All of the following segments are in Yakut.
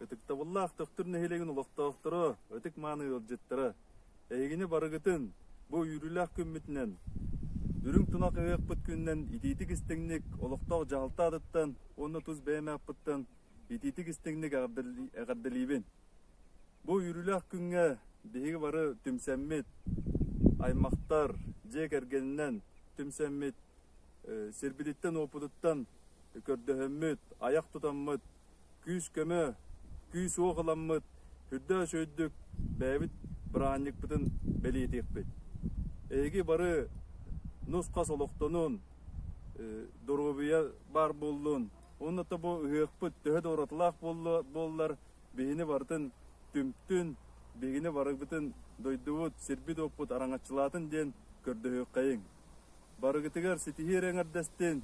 Ытыктабыллаах Төхтүр нэһилиэгин олохтоохторо, ытык-мааны ыалдьыттара, эһигини барыгытын бу үөрүүлээх күммүтүнэн, үрүҥ тунах ыһыахпыт күнүнэн итиитик-истиҥник олохтоох дьаһалта атыттан уонна тус бэйэм ааппыттан итиитик-истиҥник эҕэрдэлиибин. Бу үөрүүлээх күҥҥэ биһиги бары түмсэммит, аймахтар, дьиэ кэргэнинэн түмсэммит сирбититтэн-уоппутуттан көрдөһөммүт, айах тутаммыт, күүс-көмө, күүс-уох ыламмыт үрдөөс үрдүк бэйэбит быраанньыкпытын бэлиэтиэхпит. Эһиги бары нус-хас олохтонун, доруобуйа баар буоллун, уонна да бу ыһыахпыт төһө да уратылаах буоллар, биһини барытын түмтүн, биһигини барыбытын дойдубут, сирбит-уоппут араҥаччылаатын диэн көрдөһүөххэйиҥ. Барыгытыгар ситиһии эрэ эҥэрдэстин.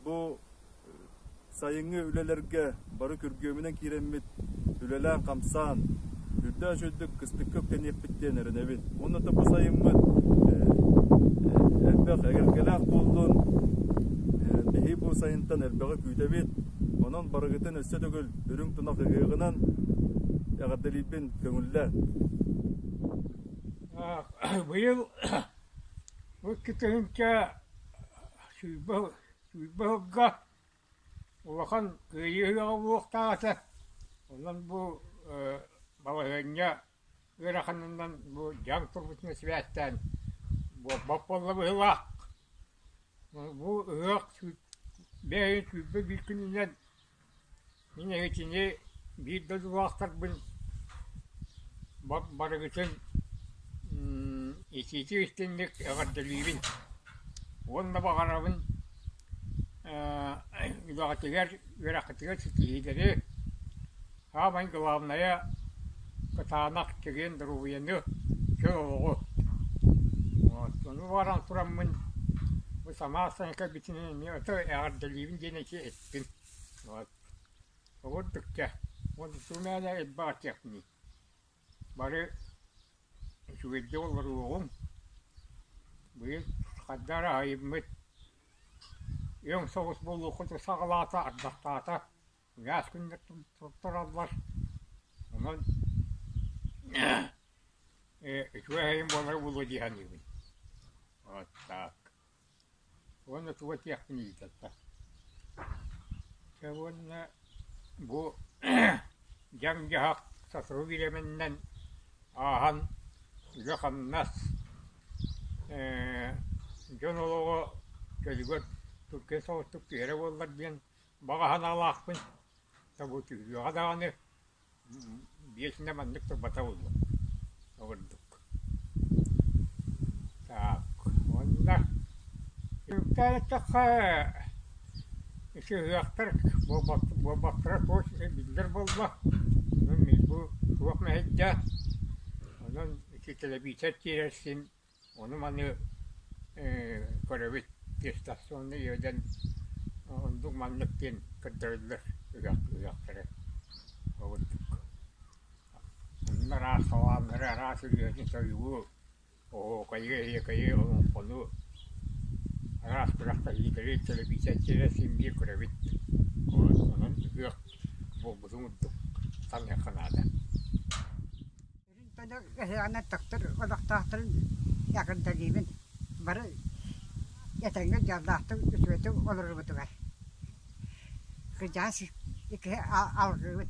Бу сайыҥҥы үлэлэргэ бары күргүөмүнэн киирэммит үлэлээн-хамсаан, үрдээх үчүгдүк кыстыкка үктэниэхпит диэн эрэнэбин. Уонна да бу сайыммыт элбэх эгэлгэлээх буоллун. Биһи бу сайынтан элбэҕи күүтэбит. Онон барыгытын өссө төгүл үрүҥ тунах ыһыаҕынан эҕэрдэлиирбин көҥүллэ. Быйыл Бу иккитиһинкэ сүүрбэ сүүрбэ ыһылга улахан кыайыы ыһыаҕа буолуохтаах этэ, онон бу ээ балаһыанньа ыараханынан бу дьаҥ турбутун сибээстээн буолбат буолла быһыылаах. Бу ыһыах бэйэҥ сүүрбэ биир күнүнэн Мин эһичини биир дойдулаахтарбын барыгытын итиитик истинник эҕэрдэлиибин уонна баҕарабын үлэҕитигэр, үөрэххитигэр ситиһиилэри, саамай главное кытаанах чэгиэн доруобуйаны, чөл олоҕу. Ону баран тураммын бу самаан кэлбитинэн эмиэ аты эҕэрдэлиибин диэн эти Мин вот обурдук дьэ уонна мээлэ ылбаатыахпыный бары үчүгэйдик олоруоҕуҥ быйыл ханна эрэ айыммыт өҥ соҕус буолуоххутун саҕалаата ардахтаата мээс күннэр туттараллар онон үчүгэй айым буолара буолуо дии саныыбын вот так уонна туга диэхпин ыйытата уонна бу дьам-дьаһах сотору бириэмэннэн ааһан үлэ-хамнас ээ дьон олоҕо чөлүгэр тургэн соҕустук түһэрэ буоллар диэн баҕа санаалаахпын да бу түһүлүөҕэ даҕаны биэс да маннык турбата буолуо ол курдук так уонна эттэххэ сыһыахтар буолбаттара туос биллэр буолла онон мин бу туох мэһэйдээ онон ити тэлэбиисэр тиэрэр син Ону маны көрөбүт дистанционно иэдэн оннук маннык диэн көрдөрөллөр үрэх үрэхтэрэ ол курдук. Онно араас хавааннары араас өлүөнэ сойуу, оһуокайы, эһиэкэйи, олоҥхону араас күрэхтэһиилэри, тэлэбиисэрдэрэ син биир көрөбүт. Онон үрэх буолбутун курдук саныахха наада. Ыһыаҕынан тахсар олохтоохторун эҕэрдэлиибин. Бары этэҥҥэ дьоллоохтук үтүөтүк олорорбутугар. Кырдьаҕас икки алҕыыбын.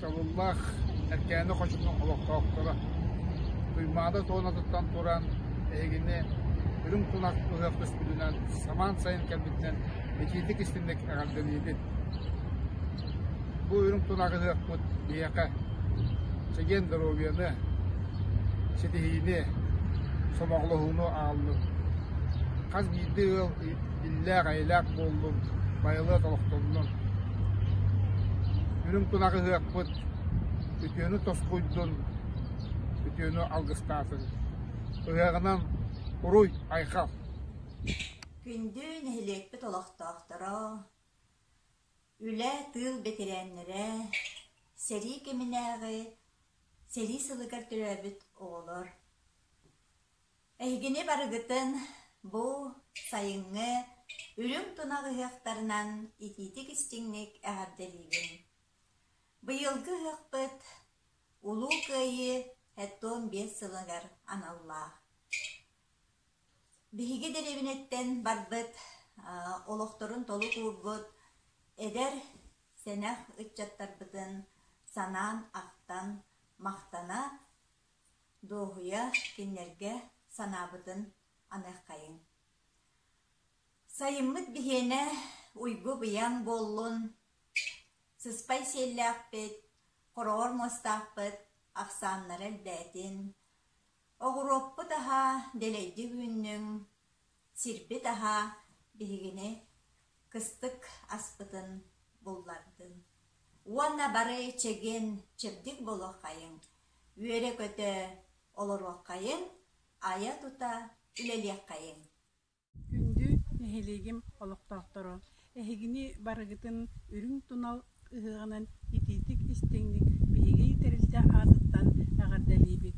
Чабыллаах Эркээни хочутун олохтоохторо Туймаада туонатыттан туран эһигини үрүҥ кунак ыһыах көспүтүнэн самаан сайын кэлбитинэн итиитик истинник эҕэрдэлиибит Бу үрүҥ тунаҕыһыахпыт биһиэхэ чэгиэн доруобуйаны, ситиһиини, сомоҕолоһууну ааллын. Хас биирдии ыал иллээх-эйэлээх буоллун, байылыат олохтоннун. Үрүҥ тунаҕыһыахпыт үтүөнү тосхуйдун, үтүөнү алгыстаатын. Ыһыаҕынан уруй, айхал! Күндү нэһилиэкпит олохтоохторо, Үлэ тыыл бэтэрээннэрэ, сэрии кэминээҕи, сэрии сылыгар төрөөбүт оҕолор. Эһигини барыгытын бу сайыҥҥы үрүҥ тунах ыһыахтарынан итиитик-истиҥник эҕэрдэлиибин. Быйылгы ыһыахпыт Улуу Кыайыы ХІІ биэс сылыгар аналлаах. Биһиги дэриэбинэттэн барбыт, олохторун толук уурбут эдэр, сэнэх ыччаттарбытын санаан-ахтан, махтана, дуоһуйа кинилэргэ санаабытын аныаххайыҥ. Сайыммыт биһиэнэ уйбу-быйаҥ буоллун, сыспай сиэллээхпит, хороҕор муостаахпыт ахсааннара элбээтин, Оҕуруоппут аһа дэлэйди үүннүҥ, сирбит аһа биһигини кыстык аспытын буллардын. Уонна бары чэгиэн, чэбдик буолуоххайыҥ, үөрэ-көтө олоруоххайыҥ, айа-тута үлэлиэххэйиҥ Күндү нэһилиэгим олохтоохторо, эһигини барыгытын үрүҥ тунал ыһыаҕынан итиитик-истиҥник биһиги тэрилтэ аатыттан эҕэрдэлиибит!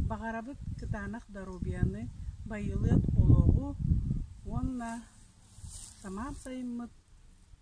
Баҕарабыт кытаанах доруобуйаны, байылыат олоҕу уонна самаан сайыммыт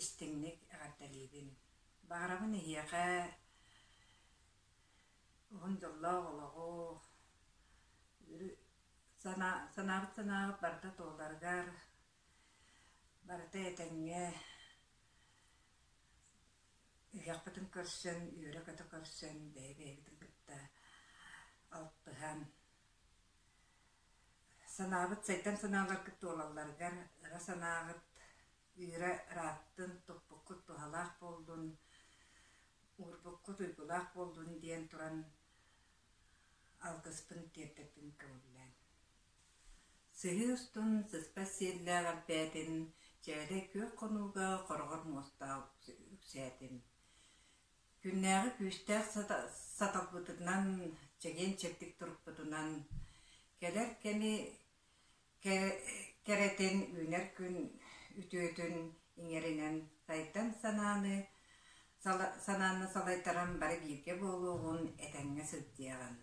истиҥник эҕэрдэлиибин. Баҕарабын эһиэхэ уһун дьоллоох олоҕу, санаа, санаабыт санааҕыт барыта туоларыгар, барыта этэҥҥэ, ыһыахпытын көрсөн, үөрэ-көтө көрсөн, бэйэ-бэйэбитин кытта алтыһан, санаабыт, сайдан санааларгыт туолалларыгар ыра санааҕыт Вера ырааттын, туппуккут туһалаах буоллун, уурбуккут уйгулаах буоллун диэн туран алгыспын тиэрдэппин көҥүллээн. Сыһыы устун сыспат сиэллээх элбээтин, чээлэй күөх хонууга хороҕор муостаах үксээтин. Күннээҕи күүстээх саталбытынан, чэгиэн-чэбдик турукпутунан, кэлэр кэми Кэрэтин үүнэр күн үтүөтүн иҥэринэн сайдан санааны санааны салайтаран бары бииргэ буолуоҕун этэҥҥэ сылдьыаҕын.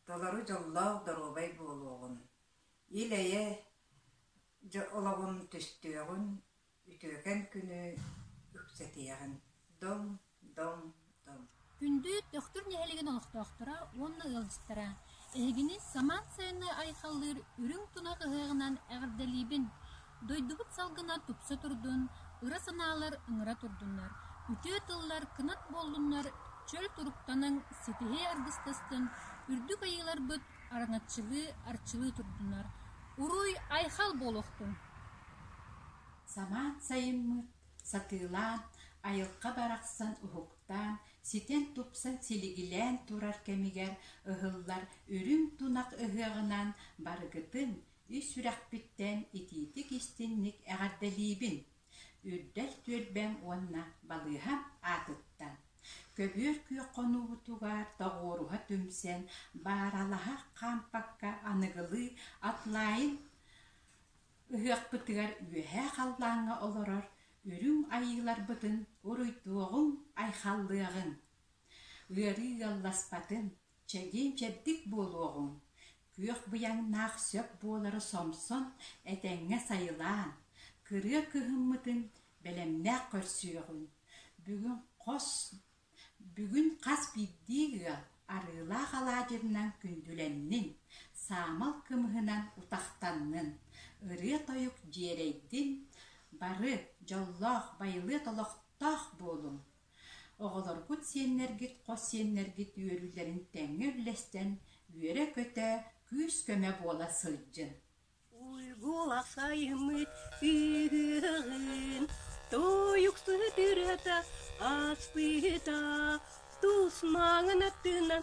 Толору дьоллоох доруобай буолуоҕун. Ил-эйэ олоҕун түстүөҕүн Үтүөкэн күнү үксэтиэҕин, Доҥ, доҥ, доҥ! Күндү Төхтүр нэһилигин олохтоохторо уонна ыалдьыттара, эһигини Самаан сайыннай айхаллыыр үрүҥ тунах ыһыаҕынан эҕэрдэлиибин! Дойдубут салгына тупса турдун, ыра санаалар ыҥыра турдуннар, үтүө тыллар кынат буоллуннар, чөл туруктаныҥ, ситиһии аргыстастын, үрдүк айыыларбыт араҥаччылыы арчылыы турдунар уруй айхал буолуохтун самаан сайыммыт сатыылаан айылҕа барахсан уһуктаан ситэн тупсан силигилээн турар кэмигэр ыһыллар үрүҥ тунах ыһыаҕынан барыгытын ис сүрэхпиттэн итиитик истинник эҕэрдэлиибин Үрдэл түөлбэм уонна балыыһам аатыттан көбүөр күөх хонуубутугар тоҕуоруһа түмсэн бааралаһа хаампакка аныгылыы атлайын ыһыахпытыгар үөһээ халлааҥҥа олорор үрүҥ айыыларбытын уруйдуоҕуҥ-айхаллыаҕыҥ, ыарыы ыалласпатын Чэгиэн-чэбдик буолуоҕуҥ, күөх быйаҥнаах сөп буолара сомсон, этэҥҥэ сайылаан, кырыа кыһыммытын, бэлэмнээх көрсүөҕүҥ. Бүгүн хос, бүгүн хас биирдии ыал арыылаах алаадьынан күндүлэннин, саамал кымыһынан утахтаннын, ырыа-тойук дьиэрэйдин, бары дьоллоох, байылыат олохтоох буолуҥ! Оҕолоргут сиэннэргит хос сиэннэргит үөрүүлэрин тэҥҥэ үллэстэн үөрэ-көтө, күүс-көмө буола сылдьын. Уйгула сайымыт ыйыгын Тойук сытырата аспыта Тус маҥан аттынан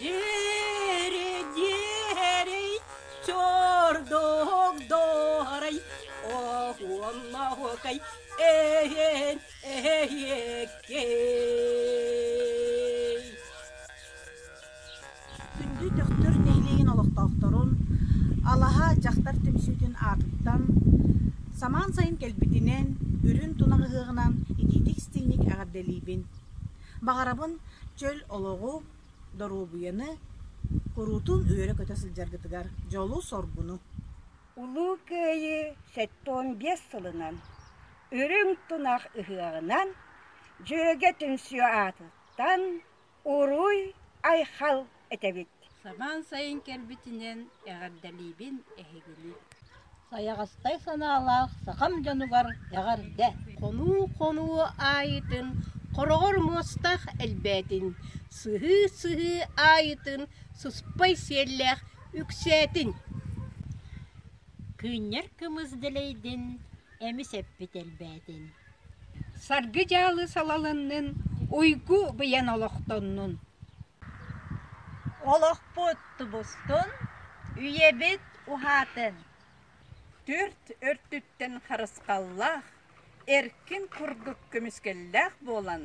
Диэри-диэри чордук дорай оһуомнахыкай эһэн эһэккей Күндү Дөхтүр нэһилиэгин олохтоохторун алаһа дьахтар түмсүүтүн аатыттан самаан сайын кэлбитинэн үрүн тунах ыһыаҕынан итиитик-истиҥник эҕэрдэлиибин! Баҕарабын чөл олоҕу, доруобуйаны, куруутун үөрэ-көтө сылдьаргытыгар дьолу-соргуну! Улуу Кыайыы сэттуон биэс сылынан Үрүҥ тунах ыһыаҕынан Дьүөгэ түмсүү аатыттан Уруй-Айхал этэбит. Сабаан сайын кэлбитинэн эҕэрдэлиибин эһигини. Сайаҕастай санаалаах сахам дьонугар эҕэрдэ! Хонуу-хонуу аайытын хороҕор муостах элбээтин, сыһыы-сыһыы аайытын сыспай сиэллээх үксээтин. Кыынньар кымыс дэлэйдин, эмис эппит элбээтин. Саргы дьаалы салалыннын, уйгу быйан олохтоннун. Олохпут тубустун, үйэбит уһаатын. Түөрт өртүттэн харысхаллаах, эркин курдук көмүскэллээх буолан